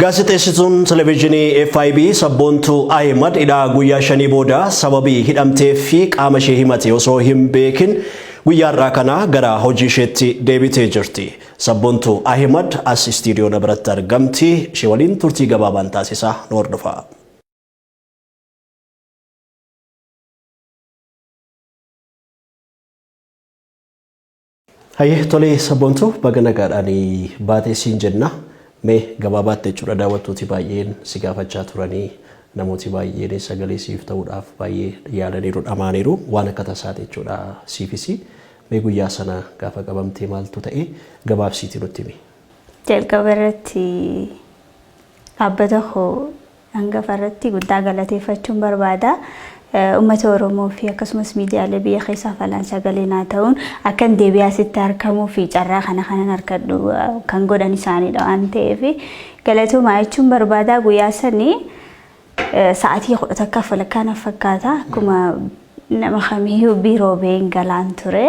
Gaazexeessituun televezyiinii FIB sabboontuu Ahimad hidhaa guyyaa shanii booda sababii hidhamtee fi qaama ishee himate osoo hin beekin guyyaa har'aa kana gara hojii isheetti deebitee jirti. Sabboontuu Ahimad as istiidiyoo na biratti argamti. Ishee waliin turtii gabaabaan taasisaa nu hordofaa. Hayyee tolee sabboontuu baga nagaadhaan baatee siin jenna. Mee gabaabaatte jechuudha daawwattooti baay'een si gaafachaa turanii namooti baay'een sagalee siif ta'uudhaaf baay'ee yaalaniiru dhamaaniiru waan akka tasaati jechuudha siifis mee guyyaa sana gaafa qabamtee maaltu ta'e gabaabsiiti nutti himi. Jalqaba irratti dhaabbata koo Hangafa irratti guddaa galateeffachuun barbaada. Uummata Oromoo fi akkasumas miidiyaalee biyya keessaaf alaan sagalee naa ta'uun akkan deebi'ee asitti argamuu fi carraa kana kanan harkadhu kan godhan isaaniidha waan ta'eef galatoomaa jechuun barbaada. Guyyaa sanii sa'aatii kudha takkaaf walakkaa na fakkaata akkuma nama kamiyyuu biiroo ba'een galaan ture.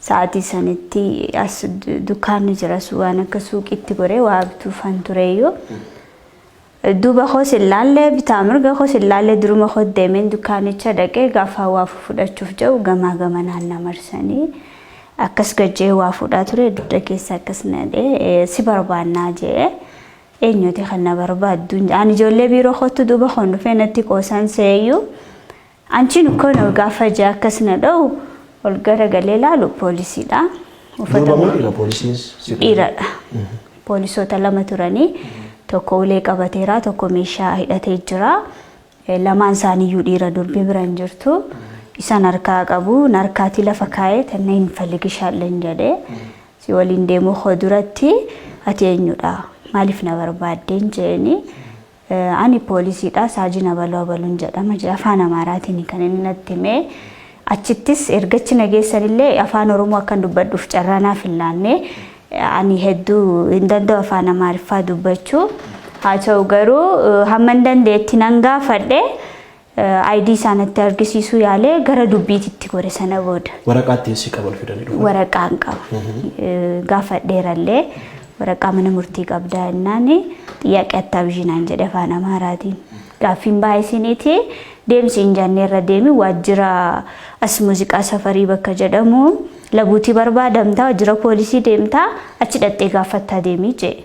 Sa'aatii sanitti as dukkaanni jiras waan akka suuqiitti goree waa bituufan tureyyuu. Duuba koos hin laalle, bitaa mirga koos hin laalle, duruma kootti deemeen dukkaanicha dhaqe, gaafa waa fudhachuuf jedhu gamaa gamanaan na marsanii, akkas gad jedhee waa fuudhaa ture, dugda keessa akkas na dhee, si barbaannaa jedhe. Eenyuuti kan na barbaaddu? Ani ijoollee biiroo koottu duuba koon dhufee natti qoosan seeyyuu. Anchiin ukkoon ol gaafa ija akkas na dha'u ol gara galee laalu poolisiidha. Durba moo dhiira poolisiinis si qabe? Dhiiradha. Poolisoota lama turanii tokko ulee qabateera tokko meeshaa hidhatee jira. Eh, Lamaan isaaniiyyuu dhiira durbi bira hin jirtu. Isaan harkaa qabu narkaatii lafa kaa'ee tanna hin faligishaalleen jedhee si waliin deemuu koo duratti ati eenyudha maaliif na barbaaddeen jeeni Ani poolisiidha, Saajin Abaluu Abaluun jedhama jedhe. Afaan Amaaraatiini kan inni natti hime. Achittis erga achi na geessanillee afaan Oromoo akkan dubbadhuuf carraa naaf hin laanne. Ani hedduu hin danda'u afaan Amaariffaa dubbachuu. Haa ta'u garuu hamman danda'etti nan gaafadhe. ID isaa natti argisiisuu yaalee gara dubbiitti itti gore sana booda. Waraqaa ittiin si qaban fidanii dhufan. Waraqaa hin qabu. Gaafadheerallee waraqaa mana murtii qabdaa jennaan xiyyaaqee attaa bishinaan jedhe afaan Amaaraatiin. Gaaffiin baay'ee isiniiti deemsi hin janneerra deemi waajjira as muuziqaa safarii bakka jedhamu labuutii barbaadamtaa waajjira poolisii deemtaa achi dhaxxee gaaffattaa deemii jedhe.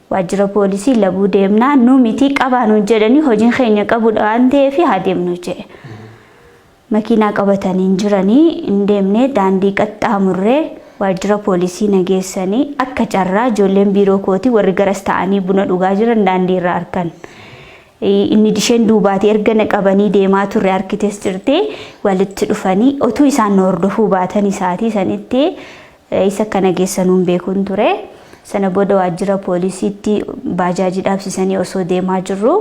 Waajjira poolisii labuu deemnaa nu mitii qabaa nuun jedhanii hojiin keenya qabudha waan ta'eef haa deemnu jedhe. Makiinaa qabatanii hin jiranii hin deemnee daandii qaxxaamurree waajjira poolisii na geessanii akka carraa ijoolleen biiroo kootii warri garas ta'anii buna dhugaa jiran daandii irra arkan. Inni disheen duubaatii erga na qabanii deemaa turre harkites jirti walitti dhufanii otuu isaan na hordofuu baatanii sa'aatii sanitti Eessa akka na geessanuu hin beekun ture. Sana booda waajjira poolisiitti baajaajii dhaabsisanii osoo deemaa jirru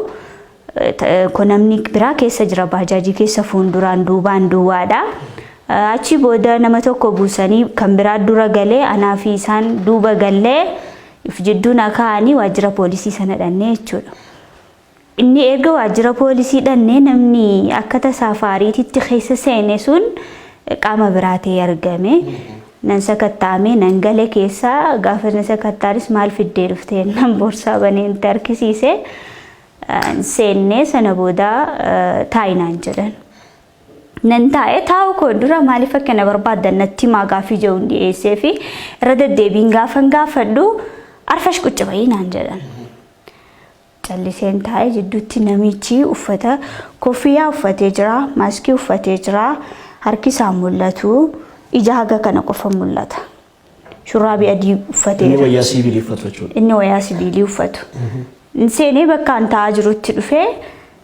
ko namni biraa keessa jira baajaajii keessa fuunduraan duubaan duwwaadha. Achii booda nama tokko buusanii kan biraa dura galee anaa fi isaan duuba gallee if jidduu na kaa'anii waajjira poolisii sana dhannee jechuudha. Inni erga waajjira poolisii dhannee namni akka tasaa faariititti keessa seene sun qaama biraa ta'ee argame. Nan sakattaa'ame nan gale keessa gaafa na sakattaanis maal fiddee dhuftee nan boorsaa banee nutti harkisiise. Seennee sana booda taa'i naan jedhan. Nan taa'e taa'u koo dura maaliif akka na barbaadan natti himaa gaaffii jedhuun dhiyeessee fi irra deddeebiin gaafan gaafadhu arfash qucci ba'ii naan jedhan. Calliseen taa'e jidduutti namichi uffata koffiyaa uffatee jira, maaskii uffatee jira, harki isaan mul'atu, ija haga kana qofa mul'ata. Shurraabii adii Inni uffateera. wayyaa siivilii uffatu jechuudha. Inni wayaa sibiilii uffatu. Inni seenee bakka an taa'aa jirutti dhufee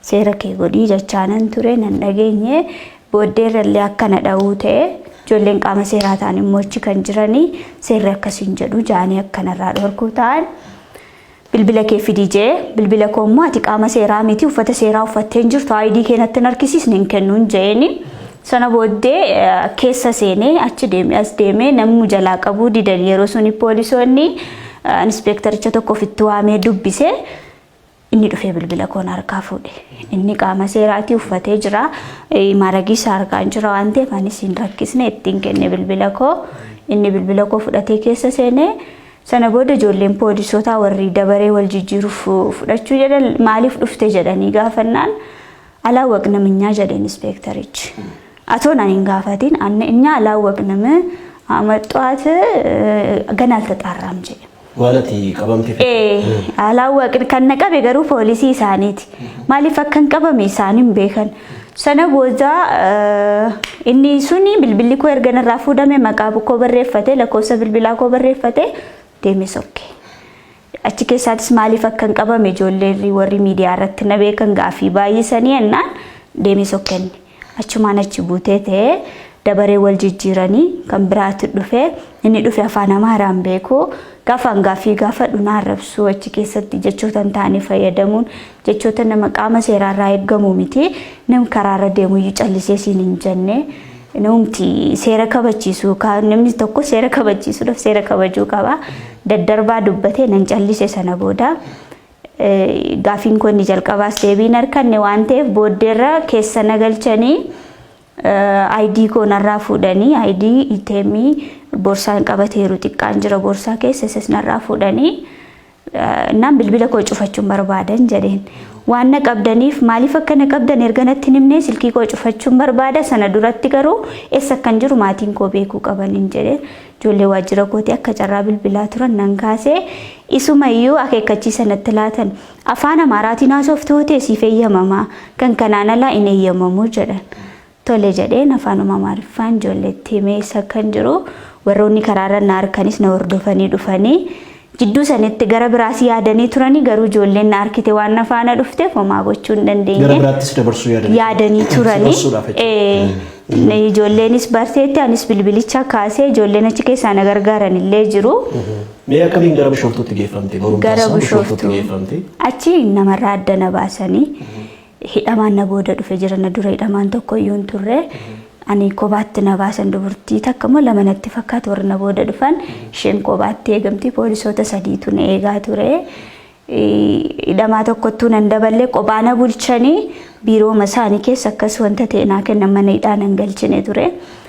Seera kee godhii jechaanan ture nan dhageenye booddeerrallee akka na dha'uu ta'e ijoolleen qaama seeraa ta'an immoo achi kan jiranii seerri akkasiin jedhu jaanii akka narraa dhorkuu ta'an bilbila kee fidii jee bilbila koo immoo ati qaama seeraa miti uffata seeraa uffattee hin jirtu aayidii kee natti hin harkisiisne hin kennuun jeeni sana booddee keessa seenee achi deemee as deemee namni jalaa qabuu didan yeroo suni poolisoonni inspeektaricha tokko ofitti waamee dubbise Inni dhufee bilbila koo na harkaa fuudhe. Inni qaama seeraatii uffatee jira. Eh, Maaragii isaa harkaan jira waan ta'eef anis hin rakkisne ittiin kenne bilbila koo. Inni bilbila koo fudhatee keessa seene. Sana booda ijoolleen poolisootaa warri dabaree wal jijjiiruuf fudhachuu jedhan maaliif dhufte jedhanii gaafannaan Alaawwaqnam inyaa jedhe inispeektarichi. Atoo naan hin gaafatiin anne inyaa alaawwaqnam amaxxuwaat gana altaxaarraam jedhe. Waan ati qabamte Ee alaawwaqn kan na qabe garuu poolisii isaaniiti. Maaliif akkan qabame isaan hin beekan. Sana booda eh, inni suni bilbilli koo erga narraa fuudhame maqaa koo barreeffate lakkoofsa bilbilaa koo barreeffate deeme sokke. Achi keessaatis maaliif akkan qabame ijoolleerri warri miidiyaa irratti na beekan gaafii baay'isanii ennaan deemee sokkenne. Achumaan achi buutee ta'ee dabaree wal jijjiiranii kan biraatu dhufe inni dhufe afaan Amaaraan beeku gaafaan gaafii gaafadhu na arrabsuu achi keessatti jechoota hin taane fayyadamuun jechoota nama qaama seeraarraa eegamu miti nam karaarra deemuyyuu callisee siin hin jenne. Namumti seera kabachiisu ka- namni tokko seera kabachiisuudhaaf seera kabajuu qaba. Daddarbaa dubbatee nan callise sana booda eh, gaafiin koo inni jalqabaas deebii hin arganne waan ta'eef booddeerra keessa na galchanii eh, ID koo narraa fuudhanii ID itemii borsaan qabateeru xiqqaan jira borsaa keessa isas narraa fuudhanii Naan bilbila koo cufachuun barbaadan jedheen. Waan na qabdaniif maaliif akka na qabdan erga natti hin himne silkii koo cufachuun barbaada sana duratti garuu eessa akkan jiru maatiin koo beekuu qabaniin jedhe. Ijoollee waajjira kootii akka carraa bilbilaa turan nan kaasee isuma iyyuu akeekkachiisa natti laatan. Afaan Amaaraatiin haasoftu ta'e siif eeyyamamaa kan kanaan alaa hin eeyyamamu jedhan. tole jedheen afaanuma Amaariffaan ijoolleetti himee isa akkan jiru warroonni karaarra na arkanis na hordofanii dhufanii jidduu sanitti gara biraas yaadanii turanii garuu ijoolleen na arkite waan na faana dhufteef homaa gochuu hin gara dandeenye biraattis dabarsuu yaadanii yaadanii turanii dabarsuudhaaf jechuudha. ee, ijoolleenis barteetti anis bilbilicha kaasee ijoolleen achi keessaa na gargaaran illee jiru Mee akkamiin gara bishooftuutti geeffamte? Barumsa gara isaa bishooftuutti bishooftuu geeffamte. achi namarraa adda na baasanii Hidhamaan na booda dhufe jira na dura hidhamaan tokko iyyuu hin turre. Ani kobaatti na baasan dubartii takka immoo lama natti fakkaatu warri na booda dhufan isheen kobaatti eegamti poolisoota sadiitu na eegaa ture. Hidhamaa tokkottuu nan daballee qophaa na bulchanii biirooma isaanii keessa akkas wanta ta'e naa kennan mana hidhaa nan galchine ture.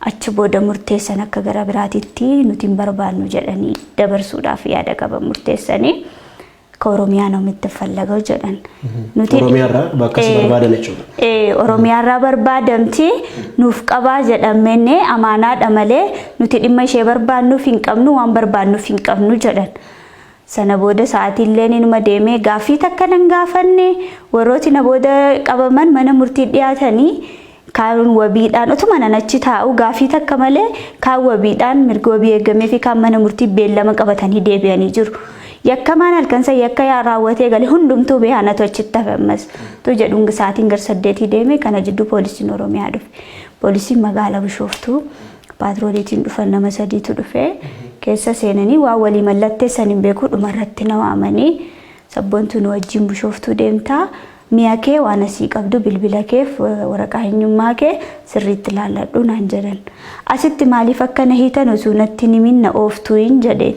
Achi booda murteessan akka gara biraatitti nuti hin barbaannu jedhanii dabarsuudhaaf yaada qaban murteessanii akka Oromiyaa nama itti fallagau jedhan. Nuti- Oromiyaarraa bakka si Eh, barbaadan jechuudha. eh, Oromiyaarraa barbaadamti nuuf qabaa jedhamne amaanaadha malee nuti dhimma ishee barbaannuuf hin qabnu waan barbaannuuf hin qabnu jedhan. Sana booda sa'aatiilleen inuma deeme. Gaaffii takka nan gaafanne. Warrooti na booda qabaman mana murtii dhiyaatanii kaan wabiidhaan otuma nan achi taa'u gaaffii takka malee kaan wabiidhaan mirga wabii eegamee fi kaan mana murtii beellama qabatanii deebi'anii jiru. Yakkamaan halkan san yakka yaa raawwatee gale hundumtuu beehanatu achitti hafe ammas tu jedhuun sa'aatiin gar saddeetii deeme kana jidduu poolisiin Oromiyaa dhufe. Poolisiin magaala Bishooftuu. paatrooliitiin dhufan nama sadiitu dhufe keessa seenanii waan walii mallatteessan hin beeku dhumarratti na waamanii sabboontuu nu wajjin bushooftuu deemtaa mi'a kee waan asii qabdu bilbila keef waraqaa eenyummaa kee sirriitti laalladhu naan jedhan asitti maaliif akka na hiitan osoo natti hin himin na ooftuu hin jedhe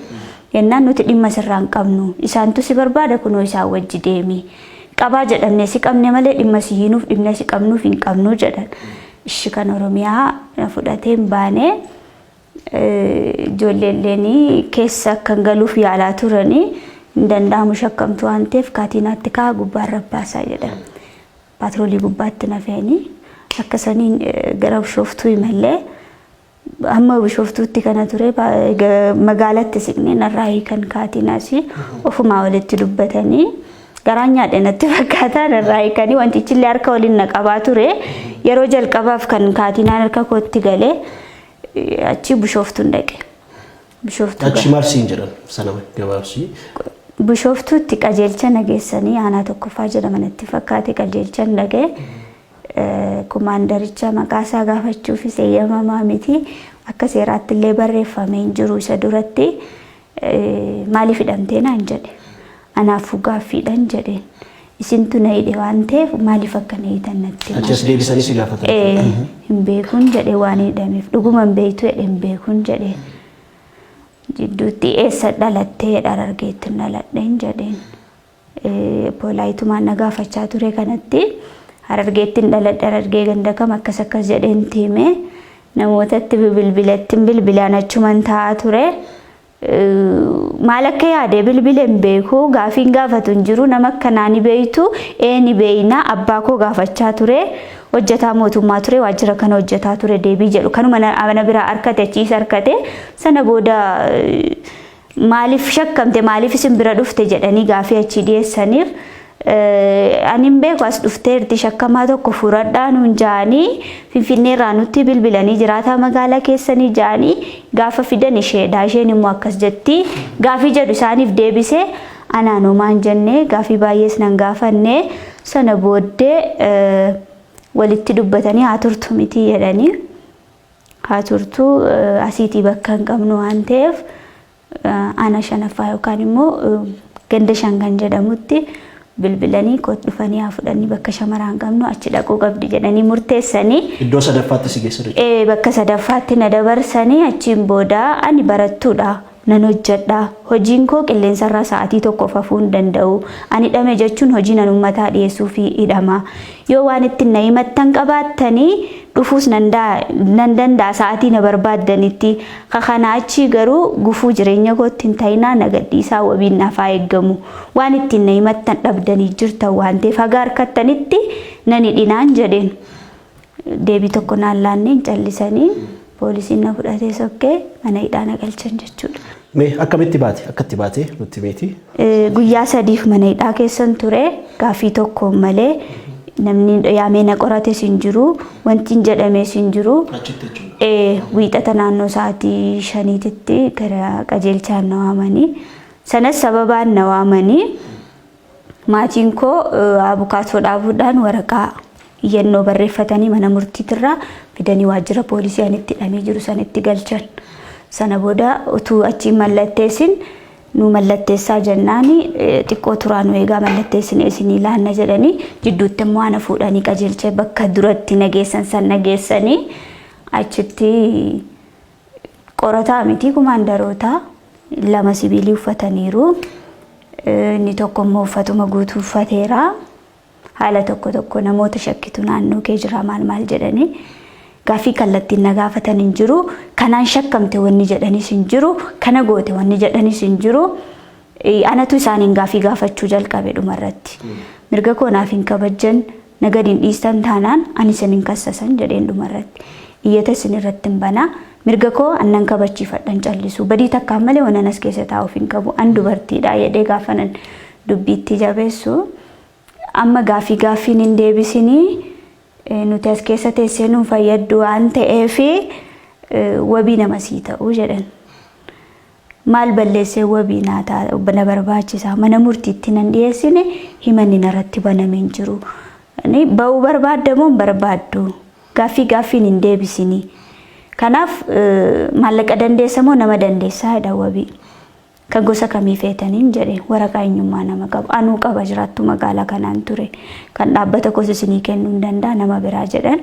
yennaan nuti dhimma sirraa hin qabnu isaantu si barbaada kunoo isaan wajji deemi qabaa jedhamne si qabne malee dhimma si hiinuuf dhimna si qabnuuf hin qabnu jedhan Ishi kan oromiyaa na fudhatee hin baane ijoolleelleen keessa akkan galuuf yaalaa turani hin danda'amu shakkamtu waan ta'eef kaatiinaatti kaa gubbaan rabbaasaa jedhan paatroolii gubbaatti na fe'anii akka saniin gara bishooftuu imallee Amma Bishooftuutti kana ture magaalatti siqnee narraa hiikan kaatiin asii ofumaa walitti dubbatanii garaan nyaadhe natti fakkaataa narraa hiikanii wantichi illee harka waliin na qabaa ture yeroo jalqabaaf kan kaatinaan harka kootti galee achii Bishooftuun dhaqe. Bishooftuu Achi maal siin jedhan sana gabaabsii. Bishooftuutti qajeelcha nageessanii aanaa tokkoffaa jedhama natti fakkaate qajeelchan dhaga'e. Komaandaricha maqaa isaa gaafachuufis eeyyamamaa miti. Akka seeraatti illee barreeffamee hin jiru isa duratti. Maaliif hidhamtee naan jedhe. Anaafuu gaaffiidhan jedheen. Isintu na hidhe waan ta'eef maaliif akka na hiitan natti himaa. Achas deebisanii si gaafatan. Ee, hin beekun jedhe waan hidhameef. Dhuguma hin beektu jedhe hin beekun jedhe. Jidduutti eessa dhalattee jedha Harargeettin dhaladheen jedheen. Poolaayitumaan na gaafachaa ture kanatti Harargeettin dhaladhe Harargee ganda kam akkas akkas jedheen itti hime. Namootatti bilbilettin bilbilaan achuman taa'aa ture. Maal akka yaade bilbile hin beeku gaafiin gaafatu hin jiru nama akkanaa ni beeytu ee ni beeyna abbaa koo gaafachaa ture hojjetaa mootummaa ture waajjira kana hojjetaa ture deebii jedhu kanuma na bira harkate achiis harkate sana booda Maaliif shakkamte, maaliif isin bira dhufte jedhanii gaafii achii dhiyeessaniif ani hin beeku as dhufteerti shakkamaa tokko furadhaa nuun ja'anii finfinnee irraa nutti bilbilanii jiraataa magaalaa keessanii ja'anii gaafa fidan isheedha isheen immoo akkas jetti gaafii jedhu isaaniif deebise anaan homaan jenne gaafii baay'ees nan gaafanne sana booddee walitti dubbatanii haa turtu miti jedhanii. haa turtu asiitii bakka hin qabnu waan ta'eef aanaa shanaffaa yookaan immoo ganda shan kan jedhamutti bilbilanii kot dhufanii haa fudhanii bakka shamaraan qabnu achi dhaquu qabdi jedhanii murteessanii. Iddoo sadaffaatti si geessa jechuudha. Bakka sadaffaatti na dabarsanii achiin booda ani barattuudha. nan hojjedha. Hojiin koo qilleensarraa sa'aatii tokkoof hafuu hin danda'u. An hidhame jechuun hojiin an ummataa dhiyeessuufi hidhama. Yoo waan ittin na himattan qabaattani dhufuus nan daa, nan danda'a sa'aatii na barbaaddanitti. Ka kanaa achii garuu gufuu jireenya kootti hin ta'inaa na gadhiisaa wabiin naaf haa eeggamu. Waan ittiin na himattan dhabdanii jirtan waan ta'eef haga harkattanitti nan hidhinaan jedheen. Deebii tokko naan laanneen callisanii poolisiin na fudhatee sokkee mana hidhaa na galchan jechuudha. Mee akkamitti baate? Akkatti baate nutti meeti. Eh, Guyyaa sadiif mana hidhaa keessan ture gaaffii tokko malee namni yaamee na qorates hin jiru wanti hin jedhames hin jiru. Achitti jechuudha. Eh, Wiixata naannoo sa'aatii shaniititti gara qajeelchaan na waamanii sanas sababaan na waamanii Maatiin koo abukaatoo dhaabuudhaan waraqaa iyyannoo barreeffatanii mana murtiitirraa fidanii waajjira poolisii ani itti hidhamee jiru sana itti galchan. Sana booda utuu achiin mallatteessin nu mallatteessaa jennaani xiqqoo turaa nu eegaa mallatteessine isinii laanna jedhanii jidduutti immoo ana fuudhanii qajeelchee bakka duratti nageessan san nageessanii achitti Qorataa miti kumaandaroota lama sibiilii uffataniiru. Inni tokko immoo uffatuma guutuu uffateera. Haala tokko tokko namoota shakkitu naannoo kee jira maal maal jedhanii gaaffii kallattiin na gaafatan hin jiru. Kanaan shakkamte wanni jedhanis hin jiru. Kana goote wanni jedhanis hin jiru. Anatu isaaniin gaaffii gaafachuu jalqabe dhumarratti. Mirga koo naaf hin kabajjan, na gad hin dhiistan taanaan ani isin hin kassasan jedheen dhumarratti. Iyyata isin irrattin bana. Mirga koo an nan kabachiifadha hin callisu. Badii takkaan malee wanan as keessa taa'uuf hin qabu. An dubartiidha jedhee gaafanan dubbiitti jabeessu. Amma gaaffii gaaffiin hin deebisinii nuti as keessa teessee nu fayyaddu waan ta'eef wabii nama sii ta'u jedhan. Maal balleessee wabii naa ta, na barbaachisa? Mana murtiitti nan dhiyeessine himanni narratti baname hin jiru. Ni ba'uu barbaadda moo hin barbaaddu? Gaaffii gaaffiin hin deebisini. Kanaaf eh, maallaqa dandeessa moo nama dandeessaa jedha wabii. Kan gosa kamii feetaniin jedhe waraqaa eenyummaa nama qabu. Anuu qaba jiraattuu magaalaa kanaan ture. Kan dhaabbata koos isinii kennuu hin danda'a nama biraa jedhan.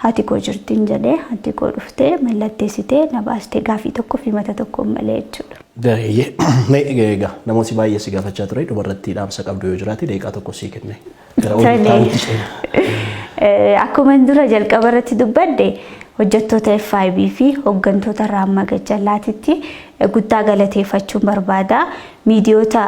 Haati koo jirtin jedhee haati koo dhuftee mallatteessitee na baastee gaafii tokko fi mata tokkoon malee jechuudha. Gareeyyee. Mee egaa egaa namooti baay'ee si gaafachaa ture dubarratti dhaamsa qabdu yoo jiraate daqiiqaa tokko sii kenne. Gara hojii Tole. taa'uutti ceena. Akkuma dura jalqaba irratti dubbadde hojjettoota FIB fi hooggantoota irraa amma gajjallaatitti guddaa galateeffachuun barbaada. Miidiyoota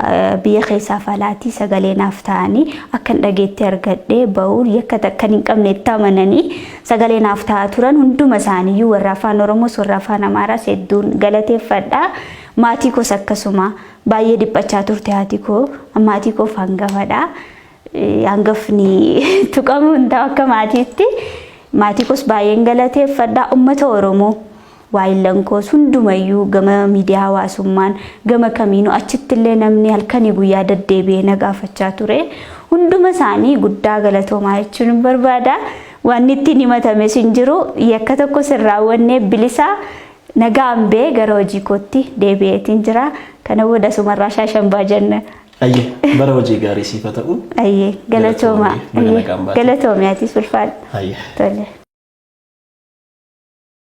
biyya keessaaf alaatii sagalee naaf ta'anii akkan dhageetti argadhee ba'uun yakka takkan hin qabne itti amananii sagalee naaf ta'aa turan hunduma isaaniiyyuu warra afaan Oromoos warra afaan Amaaraas hedduun galateeffadha. Maatii koos akkasuma baay'ee dhiphachaa turte haati koo maatii koof hangafadha. Hangafni tuqamuu hin ta'u akka maatiitti maatii koos baay'een galateeffadha uummata Oromoo. Waayillan koos hundumayyuu gama miidiyaa hawaasummaan gama kamiinuu achittillee namni halkanii guyyaa daddeebi'ee na gaafachaa ture. Hunduma isaanii guddaa galatoomaa jechuun hin barbaada. Wanni ittiin himatames hin jiru. Yakka tokkos hin raawwanne bilisa nagaan bee gara hojii kootti deebi'eetiin jira. Kana booda asumarraa shaashambaa jenna. Ayyee bara hojii gaarii siif haa ta'u. Ayyee galatoomaa. Galatoomi, baga nagaan baate. Galatoomi atis ulfaadha. Ayyee. Tole.